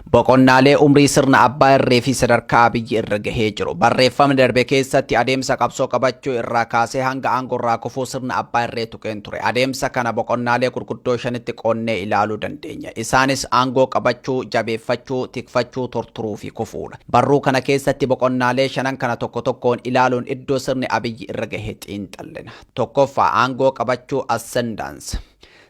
Boqonnaalee umrii sirna abbaa irree fi sadarkaa Abiyyi irra gahee jiru. Barreeffamni darbe keessatti adeemsa qabsoo qabachuu irraa kaasee hanga aangoo irraa kufuu sirna abbaa irree tuqeen ture. Adeemsa kana boqonnaalee gurguddoo shanitti qoonnee ilaaluu dandeenya. Isaanis aangoo qabachuu, jabeeffachuu, tikfachuu, torturuu fi kufuudha. Barruu kana keessatti boqonnaalee shanan kana tokko tokkoon ilaaluun iddoo sirni Abiyyi irra gahe xiinxallina. Tokkoffaa, aangoo qabachuu, ascendance.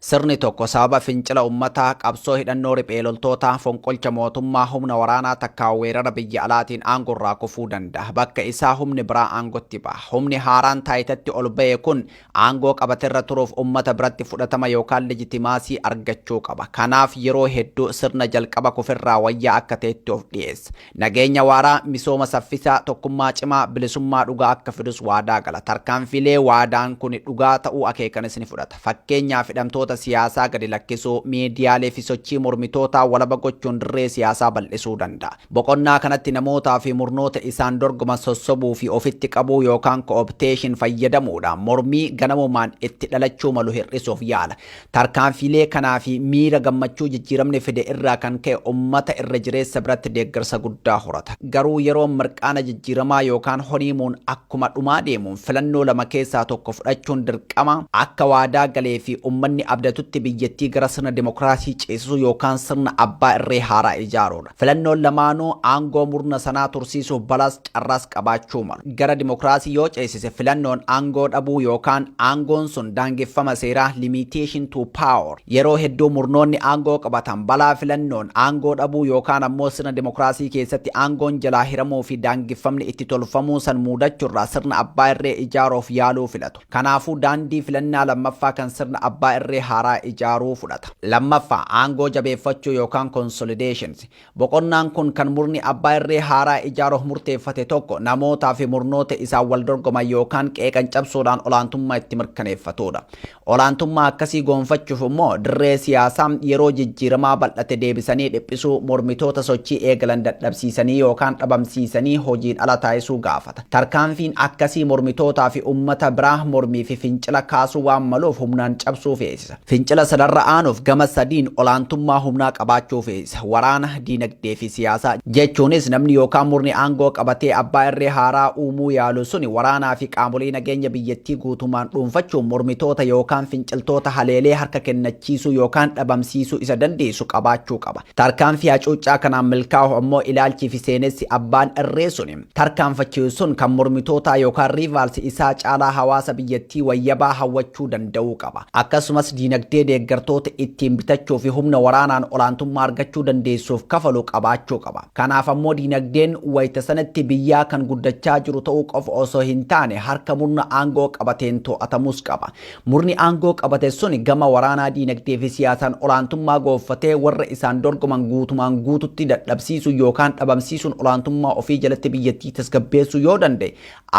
Sirni tokko sababa fincila ummataa, qabsoo hidhannoo riphee loltootaa, fonqolcha mootummaa, humna waraanaa takkaa weerara biyya alaatiin aangorraa kufuu danda'a. Bakka isaa humni biraa aangotti baha. Humni haaraan taayitatti ol bahe kun aangoo qabaterra turuuf ummata biratti fudhatama yookaan legitimaasii argachuu qaba. Kanaaf yeroo hedduu sirna jalqaba kuferraa wayyaa akka ta'etti of dhiyeessa. Nageenya waaraa, misooma saffisaa, tokkummaa cimaa, bilisummaa dhugaa akka fidus waadaa gala. Tarkaanfiilee waadaan kuni dhugaa ta'uu akeekanis ni fudhata. Fakkeenyaaf hidhamtoota siyaasaa gadi lakkisuu, miidiyaalee fi sochii mormitootaa walaba gochuun dirree siyaasaa bal'isuu danda'a. Boqonnaa kanatti namootaa fi murnoota isaan dorgoman sossobuu fi ofitti qabuu yookaan co-optation fayyadamuudhaan mormii ganamumaan itti dhalachuu malu hir'isuuf yaala. Tarkaanfiilee kanaa fi miira gammachuu jijjiiramni fide irraa kan ka'e ummata irra jireessa biratti deeggarsa guddaa horata. Garuu yeroon mirqaana jijjiiramaa yookaan honiimuun akkuma dhumaa deemuun filannoo lama keessaa tokko fudhachuun dirqama, akka waadaa galee fi ummanni abdatutti biyyattii gara sirna dimokiraasii ceesisuu yookaan sirna abbaa irree haaraa ijaaruu dha. Filannoon lamaanuu aangoo murna sanaa tursiisuuf balaas carraas qabaachuu malu. Gara dimokiraasii yoo ceesise filannoon aangoo dhabuu yookaan aangoon sun daangeffama seeraa, limitation to power, yeroo hedduu murnoonni aangoo qabatan balaa filannoon aangoo dhabuu yookaan ammoo sirna dimokiraasii keessatti aangoon jalaa hiramuu fi daangeffamni itti tolfamuu san muudachurraa sirna abbaa irree ijaaruuf yaaluu filatu. Kanaafuu daandii filannaa lammaffaa kan sirna abbaa irree haaraa ijaaruu fudhata. Lammaffaa, aangoo jabeeffachuu yookaan consolidations. Boqonnaan kun kan murni abbaa irree haaraa ijaaruuf murteeffate tokko namootaa fi murnoota isaan wal dorgoman yookaan qeeqan cabsuudhaan olaantummaa itti mirkaneeffatuudha. Olaantummaa akkasii goonfachuuf immoo dirree siyaasaa yeroo jijjiiramaa bal'ate deebisanii dhiphisuu, mormitoota sochii eegalan dadhabsiisanii yookaan dhabamsiisanii hojiin ala taasisuu gaafata. Tarkaanfiin akkasii mormitootaa fi ummata biraa mormii fi fincila kaasuu waan maluuf humnaan cabsuu feesisa. Fincila sanarra aanuuf gama sadiin olaantummaa humnaa qabaachuu feesisa. Waraana, diinagdee fi siyaasa. Jechuunis namni yookaan murni aangoo qabatee abbaa irree haaraa uumuu yaalu suni waraanaa fi qaamolee nageenya biyyattii guutumaan dhuunfachuun mormitoota yookaan finciltoota haleelee harka kennachiisuu yookaan dhabamsiisuu isa dandeessisu qabaachuu qaba. Tarkaanfii hacuuccaa kanaan milkaa'uuf ammoo ilaalchii fi seenessi abbaan irree suni tarkaanfachiisuun kan mormitootaa yookaan rivals isaa caalaa hawaasa biyyattii wayyabaa hawwachuu danda'uu qaba. Akkasumas diinagdee deeggartoota ittiin bitachuu fi humna waraanaan olaantummaa argachuu dandeessuuf kafalu qabaachuu qaba. Kanaaf ammoo diinagdeen wayita sanatti biyyaa kan guddachaa jiru ta'uu qofa osoo hin taane harka murna aangoo qabateen to'atamuus qaba. Murni aangoo qabate sun gama waraanaa, diinagdee fi siyaasaan olaantummaa goonfatee warra isaan dorgoman guutumaan guututti dadhabsiisuu yookaan dhabamsiisuun olaantummaa ofii jalatti biyyattii tasgabbeessuu yoo danda'e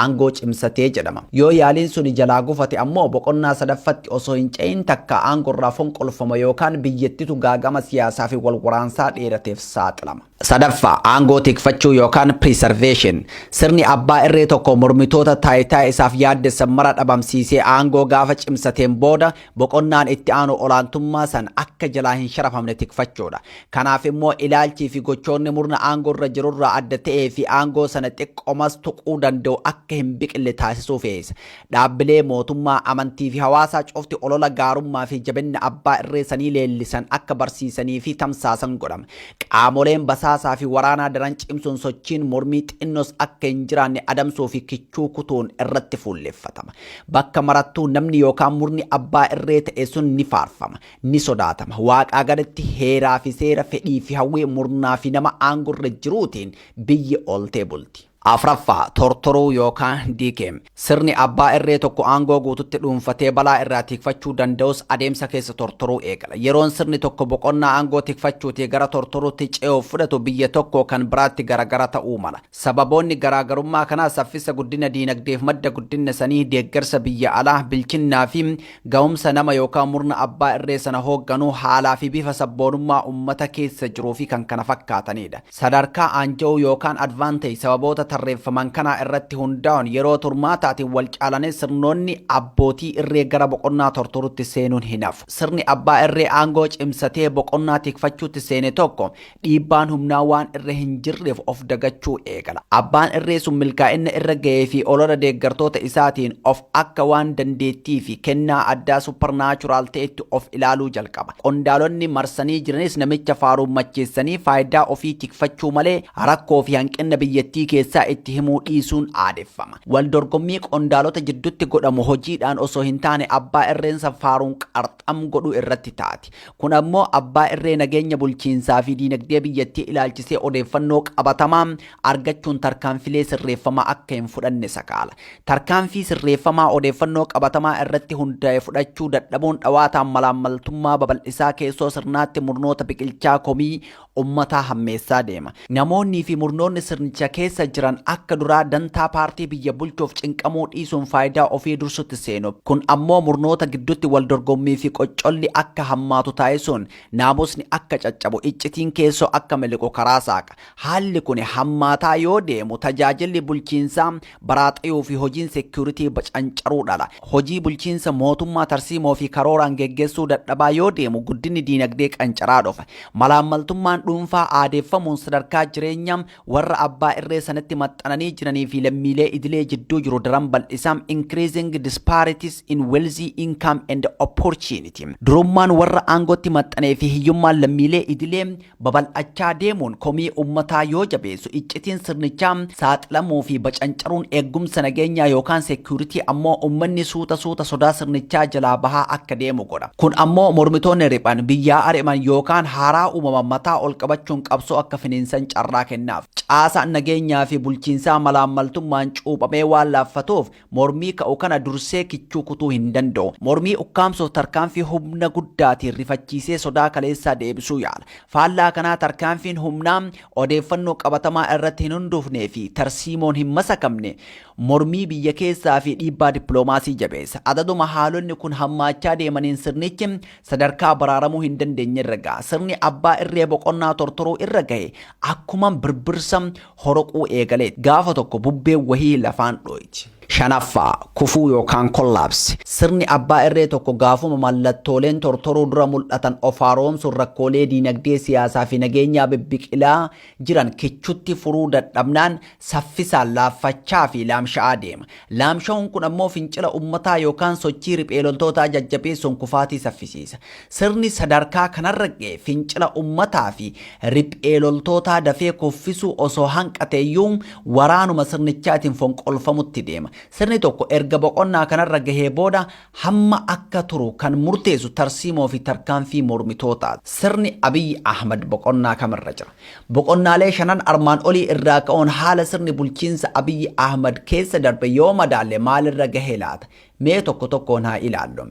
aangoo cimsatee jedhama. Yoo yaaliin suni jalaa gufate ammoo boqonnaa sadaffatti osoo hin ce'in takkaa aangorraa fonqolfama yookaan biyyattitu gaaga'ama siyaasaa fi wal waraansaa dheerateef saaxilama. Sadaffaa, aangoo tikfachuu yookaan preservation. Sirni abbaa irree tokko mormitoota taayitaa isaaf yaaddessan mara dhabamsiisee aangoo gaafa cimsateen booda boqonnaan itti aanu olaantummaa san akka jalaa hin sharafamne tikfachuudha. Kanaaf immoo ilaalchii fi gochoonni murna aangoo irra jirurraa adda ta'ee fi aangoo sana xiqqomas tuquu danda'u akka hin biqille taasisuu feesisa. Dhaabbilee mootummaa, amantii fi hawaasaa cufti olola gaarummaa fi jabinna abbaa irree sanii leellisan akka barsiisanii fi tamsaasan godhama. Qaamoleen basaasaa fi waraanaa daran cimsuun sochiin mormii xinnos akka hin jiraanne adamsuu fi kichuu kutuun irratti fuulleffatama. Bakka marattuu namni yookaan murni abbaa irree ta'e sun ni faarfama, ni sodaatama. Waaqaa gaditti heeraa fi seera, fedhii fi hawwii murnaa fi nama aangorra jiruutiin biyyi ooltee bulti. Afraffaa, Tortoruu yookaan Decay. Sirni abbaa irree tokko aangoo guututti dhuunfatee balaa irraa tiikfachuu danda'us adeemsa keessa tortoruu eegala. Yeroon sirni tokko boqonnaa aangoo tikfachuutii gara tortoruutti ce'uuf fudhatu biyya tokkoo kan biraatti garagara ta'uu mala. Sababoonni garaagarummaa kanaa saffisa guddina diinagdeef madda guddinna sanii, deeggarsa biyya alaa, bilchinnaa fi gahumsa nama yookaan murna abbaa irree sana hoogganuu, haalaa fi bifa sabboonummaa ummata keessa jiruu fi kkf dha. Sadarkaa aanja'uu yookaan advantage sababoota tarreeffaman kanaa irratti hundaa'uun yeroo turmaataatiin wal caalanii sirnoonni abbootii irree gara boqonnaa tortoruutti seenuun hin hafu. Sirni abbaa irree aangoo cimsatee boqonnaa tikfachuutti seene tokko dhiibbaan humnaa waan irra hin jirreef of dagachuu eegala. Abbaan irree sun milkaa'inna irra gahee fi olola deeggartoota isaatiin of akka waan dandeettii fi kennaa addaa supernatural ta'etti of ilaaluu jalqaba. Qondaalonni marsanii jiranis namicha faaruun macheessanii faayidaa ofii tikfachuu malee rakkoo fi hanqinna biyyattii keessaa itti himuu dhiisuun aadeffama. Wal dorgommii qondaalota jiddutti godhamu hojiidhaan osoo hin taane abbaa irreensa faaruun qarxam godhu irratti taati. Kun ammoo abbaa irree nageenya bulchiinsaa fi diinagdee biyyattii ilaalchisee odeeffannoo qabatamaa argachuun tarkaanfilee sirreeffamaa akka hin fudhanne sakaala. Tarkaanfii sirreeffamaa odeeffannoo qabatamaa irratti hundaa'e fudhachuu dadhabuun dhawaataan malaammaltummaa babal'isaa keessoo sirnaatti murnoota biqilchaa komii ummataa hammeessaa deema. Namoonnii fi murnoonni sirnicha keessa jiran akka duraa dantaa paartii biyya bulchuuf cinqamuu dhiisuun faayidaa ofii dursutti seenu. Kun ammoo murnoota gidduutti wal dorgommii fi qoccolli akka hammaatu taasisuun naamusni akka caccabu, iccitiin keessoo akka miliqu karaa saaqa. Haalli kuni hammaataa yoo deemu tajaajilli bulchiinsaa baraaxayuu fi hojiin security bacancaruu dhala. Hojii bulchiinsa mootummaa tarsiimoo fi karooraan geggeessuu dadhabaa yoo deemu guddinni diinagdee qancaraa dhufa. Malaammaltummaan dhuunfaa aadeeffamuun sadarkaa jireenya warra abbaa irree sanatti maxxananii jiranii fi lammiilee idilee jidduu jiru daran bal'isa, increasing disparities in wealthy, income and opportunity. Durummaan warra aangootti maxxanee fi hiyyummaan lammiilee idilee babal'achaa deemuun komii ummataa yoo jabeessu iccitiin sirnichaa saaxilamuu fi bacancaruun eeggumsa nageenyaa yookaan security ammoo ummanni suuta suuta sodaa sirnichaa jalaa bahaa akka deemu godha. Kun ammoo mormitoonni riphan, biyyaa ari'man yookaan haaraa uumaman mataa ol qabachuun qabsoo akka finiinsan carraa kennaaf. Caasaan nageenyaa fi bulchiinsaa malaammaltummaan cuuphamee waan laaffatuuf Mormii ka'u kana dursee kichuu kutuu hin danda'u. Mormii ukkaamsuuf tarkaanfii humna guddaatiin rifachiisee sodaa kaleessaa deebisuu yaala. Faallaa kanaa tarkaanfiin humnaa odeeffannoo qabatamaa irratti hin hundoofnee fi tarsiimoon hin masakamne mormii biyya keessaa fi dhiibbaa dippiloomaasii jabeessa. Adaduma haalonni kun hammaachaa deemaniin sirnichi sadarkaa baraaramuu hin dandeenye irra ga'a. Sirni abbaa irree boqonnaa tortoruu irra gahe akkuman birbirsa horoquu eegaleet. Gaafa tokko bubbeen wahii lafaan dhooyti. 5ffaa, Kufuu yookaan Collapse. Sirni abbaa irree tokko gaafuma mallattooleen tortoruu dura mul'atan of haaroomsuun rakkoolee diinagdee, siyaasaa fi nageenyaa bibbiqilaa jiran kichutti furuu dadhabnaan saffisaan laaffachaa fi laamsha'aa deema. Laamsha'uun kun ammoo fincila ummataa yookaan sochii riphee loltootaa jajjabeessuun kufaatii saffisiisa. Sirni sadarkaa kanarra ga'e fincila ummataa fi riphee loltootaa dafee kuffisuu osoo hanqateeyyuu waraanuma sirnichaatiin fonqolfamutti deema. Sirni tokko erga boqonnaa kanarra gahee booda hamma akka turu kan murteessu tarsiimoo fi tarkaanfii mormitootaati. Sirni Abiy Ahmad boqonnaa kamirra jira? Boqonnaalee shanan armaan olii irraa ka'uun haala sirni bulchiinsa Abiy Ahmad keessa darbe yoo madaalle maalirra gahe laata? Mee tokko tokkoon haa ilaallu.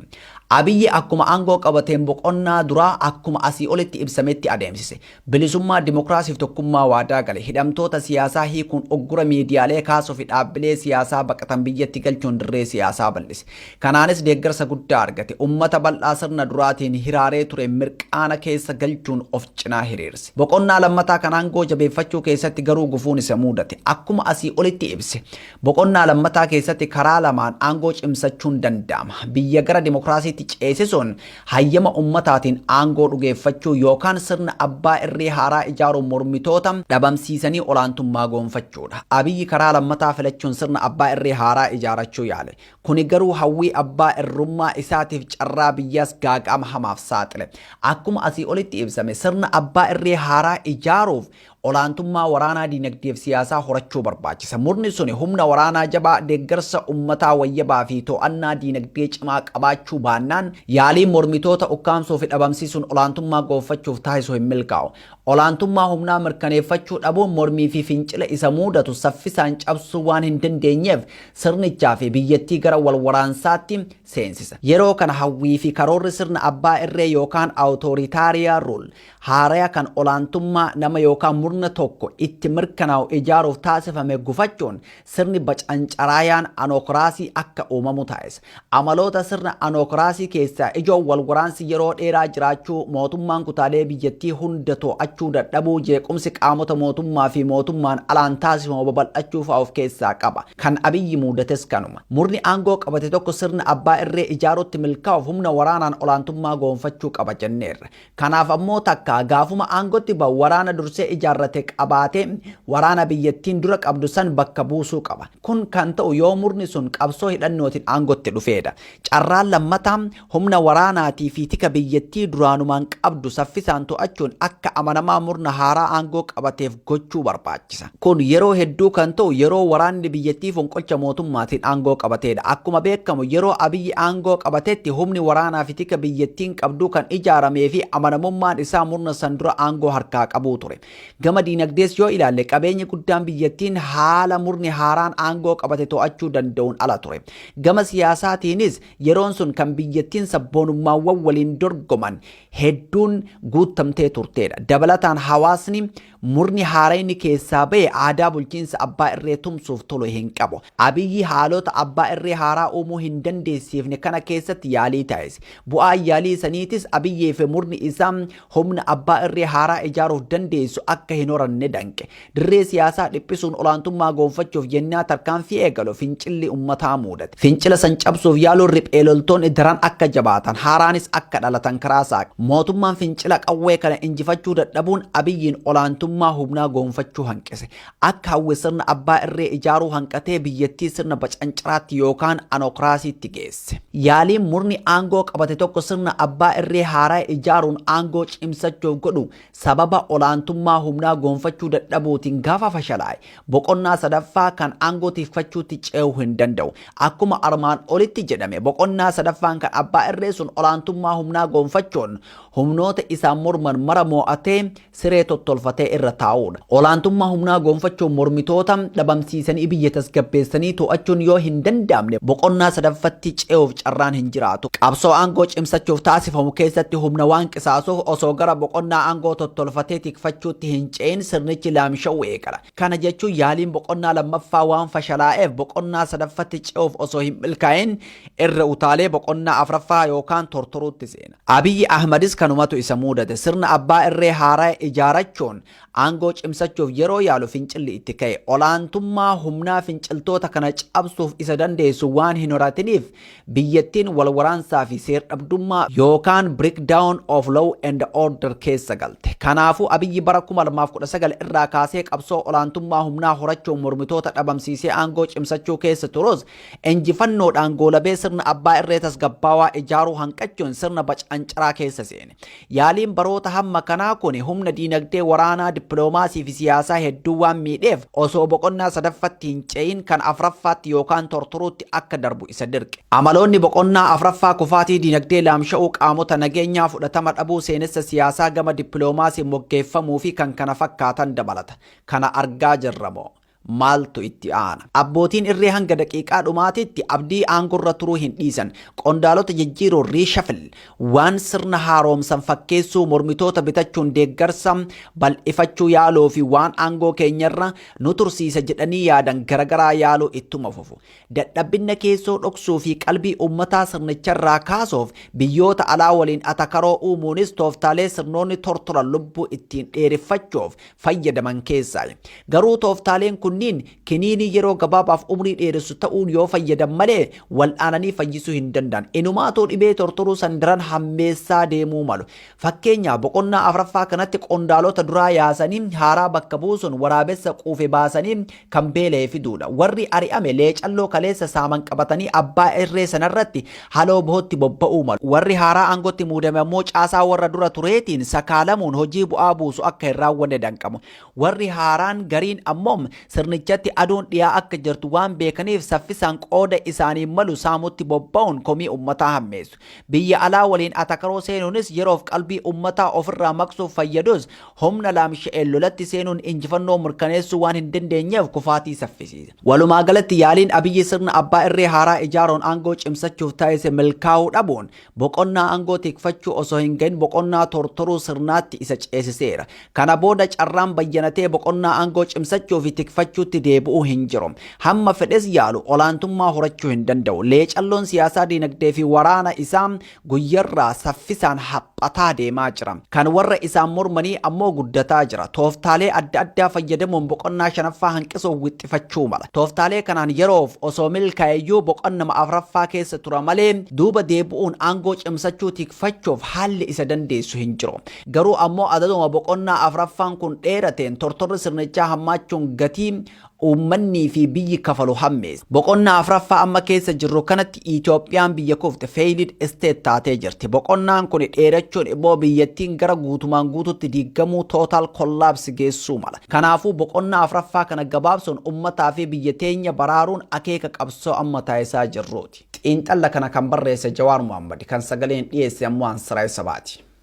Abiy akkuma aangoo qabateen boqonnaa duraa akkuma asii olitti ibsametti adeemsise. Bilisummaa, dimokiraasiif tokkummaa waadaa gale. Hidhamtoota siyaasaa hiikuun uggura miidiyaalee kaasuufi dhaabbilee siyaasaa baqatan biyyatti galchuun dirree siyaasaa bal'ise. Kanaanis deeggarsa guddaa argate. Ummata bal'aa sirna duraatiin hiraaree ture mirqaana keessa galchuun of cinaa hiriirse. Boqonnaa lammataa kan aangoo jabeeffachuu keessatti garuu gufuun isa muudate. Akkuma asii olitti ibse, boqonnaa lammataa keessatti karaa lamaan aangoo cimsachuun danda'ama. Biyya gara dimokiraasiitti ceesisuun hayyama ummataatiin aangoo dhugeeffachuu yookaan sirna abbaa irree haaraa ijaaruun mormitoota dhabamsiisanii olaantummaa goonfachuudha. Abiy karaa lammataa filachuun sirna abbaa irree haaraa ijaarachuu yaale. Kuni garuu hawwii abbaa irrummaa isaatiif carraa biyyaas gaaga'ama hamaaf saaxile. Akkuma asii olitti ibsame sirna abbaa irree haaraa ijaaruuf olaantummaa waraanaa, dinagdee fi siyaasaa horachuu barbaachisa. Murni suni humna waraanaa jabaa, deeggarsa ummataa wayyabaa fi to'annaa dinagdee cimaa qabaachuu baannaan yaaliin mormitoota ukkaamsuu fi dhabamsiisuun olaantummaa goonfachuuf taasisu hin milkaa'u. Olaantummaa humnaa mirkaneeffachuu dhabuun mormii fi fincila isa muudatu saffisaan cabsuu waan hin dandeenyeef sirnichaa fi biyyattii gara wal waraansaatti seensisa. Yeroo kana hawwii fi karoorri sirna abbaa irree yookaan Authoritarian Rule haaraya kan olaantummaa nama yookaan murna tokko itti mirkanaa'u ijaaruuf taasifame gufachuun sirni bacancaraayaan anokraasii akka uumamu taasisa. Amaloota sirna anookraasii keessaa ijoon walwaraansi yeroo dheeraa jiraachuu, mootummaan kutaalee biyyattii hunda to'achuu dadhabuu, jeequmsi qaamota mootummaa fi mootummaan alaan taasifamu babal'achuu fa'a of keessaa qaba. Kan Abiyyi muudates kanuma. Murni aangoo qabate tokko sirna abbaa irree ijaaruutti milkaa'uuf humna waraanaan olaantummaa goonfachuu qaba jenneerra. Kanaaf ammoo takkaa gaafuma aangotti ba'u waraana dursee ijaarrate qabaatee waraana biyyattiin dura qabdu san bakka buusuu qaba. Kun kan ta'u yoo murni sun qabsoo hidhannootiin aangotti dhufeedha. Carraan lammataa humna waraanaatii fi tika biyyattii duraanumaan qabdu saffisaan to'achuun akka amanamaa murna haaraa aangoo qabateef gochuu barbaachisa. Kun yeroo hedduu kan ta'u yeroo waraanni biyyattii fonqolcha mootummaatiin aangoo qabateedha. Akkuma beekamu yeroo Abiyyi aangoo qabatetti humni waraanaafi tika biyyattiin qabduu kan ijaarameefi amanamummaan isaa murna san dura aangoo harkaa qabuu ture. Gama diinagdees yoo ilaalle qabeenyi guddaan biyyattiin haala murni haaraan aangoo qabate to'achuu danda'uun ala ture. Gama siyaasaatiinis yeroon sun kan biyyattiin sabboonummaawwan waliin dorgoman hedduun guuttamtee turteedha. Dabalataan hawaasni Murni haarayni keessaa bahe aadaa bulchiinsa abbaa irree tumsuuf tolu hin qabu. Abiyyi haalota abbaa irree haaraa uumuu hin dandeessiifne kana keessatti yaalii taasise. Bu'aan yaalii saniitis Abiyyii fi murni isaa humna abbaa irree haaraa ijaaruuf dandeessu akka hin horanne danqe. Dirree siyaasaa dhiphisuun olaantummaa goonfachuuf yennaa tarkaanfii eegalu fincilli ummataa muudate. Fincila san cabsuuf yaaluun riphee loltoonni daran akka jabaatan, haaraanis akka dhalatan karaa saaqe. Mootummaan fincila qawwee kana injifachuu dadhabuun Abiyyiin olaantummaa humnaa goonfachuu hanqise. Akka hawwe sirna abbaa irree ijaaruu hanqatee biyyattii sirna bacancaraatti yookaan anokraasiitti geesse. Yaaliin murni aangoo qabate tokko sirna abbaa irree haaraa ijaaruun aangoo cimsachuuf godhu sababa olaantummaa humnaa goonfachuu dadhabuutiin gaafa fashalaa'e boqonnaa sadaffaa kan aangoo tikfachuutti ce'uu hin danda'u. Akkuma armaan olitti jedhame boqonnaa sadaffaan kan abbaa irree sun olaantummaa humnaa goonfachuun humnoota isaan morman mara moo'atee siree tottolfatee irra taa'uudha. Olaantummaa humnaa goonfachuun mormitoota dhabamsiisanii biyya tasgabbeessanii to'achuun yoo hin danda'amne boqonnaa sadaffatti ce'uuf carraan hin jiraatu. Qabsoo aangoo cimsachuuf taasifamu keessatti humna waan qisaasuuf osoo gara boqonnaa aangoo tottolfatee tikfachuutti hin ce'in sirnichi laamsha'uu eegala. Kana kana jechuun yaaliin boqonnaa lammaffaa waan fashalaa'eef boqonnaa sadaffatti ce'uuf osoo hin milkaa'in irra utaalee boqonnaa afraffaa yookaan tortoruutti seena. Abiyyi Ahmadis kanumatu isa muudate. Sirna abbaa irree haaraya ijaarachuun aangoo cimsachuuf yeroo yaalu fincilli itti ka'e. Olaantummaa humnaa finciltoota kana cabsuuf isa dandeessu waan hin horatiniif Biyyattiin wal waraansaa fi seer-dhabdummaa yookaan breakdown of law and order keessa galte. Kanaafuu Abiyyi bara 2019 irraa kaasee qabsoo olaantummaa humnaa horachuun mormitoota dhabamsiisee aangoo cimsachuu keessa turus, injifannoodhaan goolabee sirna abbaa irree tasgabbaawaa ijaaruu hanqachuun sirna bacancaraa keessa seene. Yaaliin baroota hamma kanaa kuni humna diinagdee, waraanaa, dippiloomaasii fi siyaasaa hedduu waan miidheef osoo boqonnaa sadaffatti hin ce'in kan afraffaatti yookaan tortoruutti akka darbu isa dirqe. Amaloonni boqonnaa afraffaa kufaatii diinagdee, laamsha'uu qaamota nageenyaa, fudhatama dhabuu seenessa siyaasaa gama dippiloomaasiin moggeeffamuu fi kkf dabalata. Kana argaa jirra moo? Maaltu itti aana? Abbootiin irree hanga daqiiqaa dhumaatiitti Abdii aangorra turuu hin dhiisan. Qondaalota jijjiiruun, reshuffle, waan sirna haaroomsan fakkeessuu, mormitoota bitachuun deeggarsa bal'ifachuu yaaluu fi waan aangoo keenyarra nu tursiisa jedhanii yaadan garagaraa yaaluu ittuma fufu. Dadhabbinna keessoo dhoksuu fi qalbii ummataa sirnicharraa kaasuuf biyyoota alaa waliin atakaroo uumuunis tooftaalee sirnoonni tortoran lubbuu ittiin dheereffachuuf fayyadaman keessaayi. Garuu tooftaaleen kunniin kiniinii yeroo gabaabaaf umrii dheeressu ta'uun yoo fayyadan malee wal'aananii fayyisuu hin danda'an. Inumaatuu dhibee tortoruu san daran hammeessaa deemuu malu. Fakkeenyaaf boqonnaa afraffaa kanatti qondaalota duraa yaasanii haaraa bakka buusuun waraabessa quufe baasanii kan beela'e fiduudha. Warri ari'ame leecalloo kaleessa saaman qabatanii abbaa irree sanarratti haloo bohootti bobba'uu malu. Warri haaraa aangootti muudame ammoo caasaa warra dura tureetiin sakaalamuun hojii bu'aa buusu akka hin raawwanne danqamu. Warri haaraan gariin ammoo sirnichatti aduun dhiyaa akka jirtu waan beekaniif saffisaan qooda isaaniin malu saamutti bobba'uun komii ummataa hammeessu. Biyya alaa waliin atakaroo seenuunis yeroof qalbii ummataa ofirraa maqsuuf fayyadus Humna laamsha'een lolatti seenuun injifannoo mirkaneessuu waan hin dandeenyeef kufaatii saffisiise. Walumaa galatti yaaliin Abiyyi sirna abbaa irree haaraa ijaaruun aangoo cimsachuuf taasise milkaa'uu dhabuun boqonnaa aangoo tikfachuu osoo hin gahin boqonnaa tortoruu sirnaatti isa ceesiseera. Kana booda carraan bayyanatee boqonnaa aangoo cimsachuu fi tikfachuutti deebi'uu hin jiru. Hamma fedhes yaalu olaantummaa horachuu hin danda'u. Leecalloon siyaasaa, diinagdee fi waraana isaa guyyarraa saffisaan haphataa deemaa jira. Kan warra isaan mormanii ammoo guddataa jira. Tooftaalee adda addaa fayyadamuun boqonnaa shanaffaa hanqisuuf wixxifachuu mala. Tooftaalee kanaan yeroof osoo milkaa'eyyuu boqonnama afraffaa keessa tura malee duuba deebi'uun aangoo cimsachuu tikfachuuf haalli isa dandeessu hin jiru. Garuu ammoo adaduma boqonnaa afraffaan kun dheerateen tortorri sirnichaa hammaachuun gatii Uummannii fi biyyi kafalu hammeessa. Boqonnaa afraffaa amma keessa jirru kanatti Itoophiyaan biyya kufte, failed state, taatee jirti. Boqonnaan kuni dheerachuun immoo biyyattiin gara guutumaan guututti diiggamuu, total collapse, geessuu mala. Kanaafuu boqonnaa afraffaa kana gabaabsuun ummataa fi biyya teenya baraaruun akeeka qabsoo amma taasisaa jirruuti. Xiinxalla kana kan barreesse Jawaar Mohaammadi, kan sagaleen dhiyeesse ammoo an Siraaj Sabaati.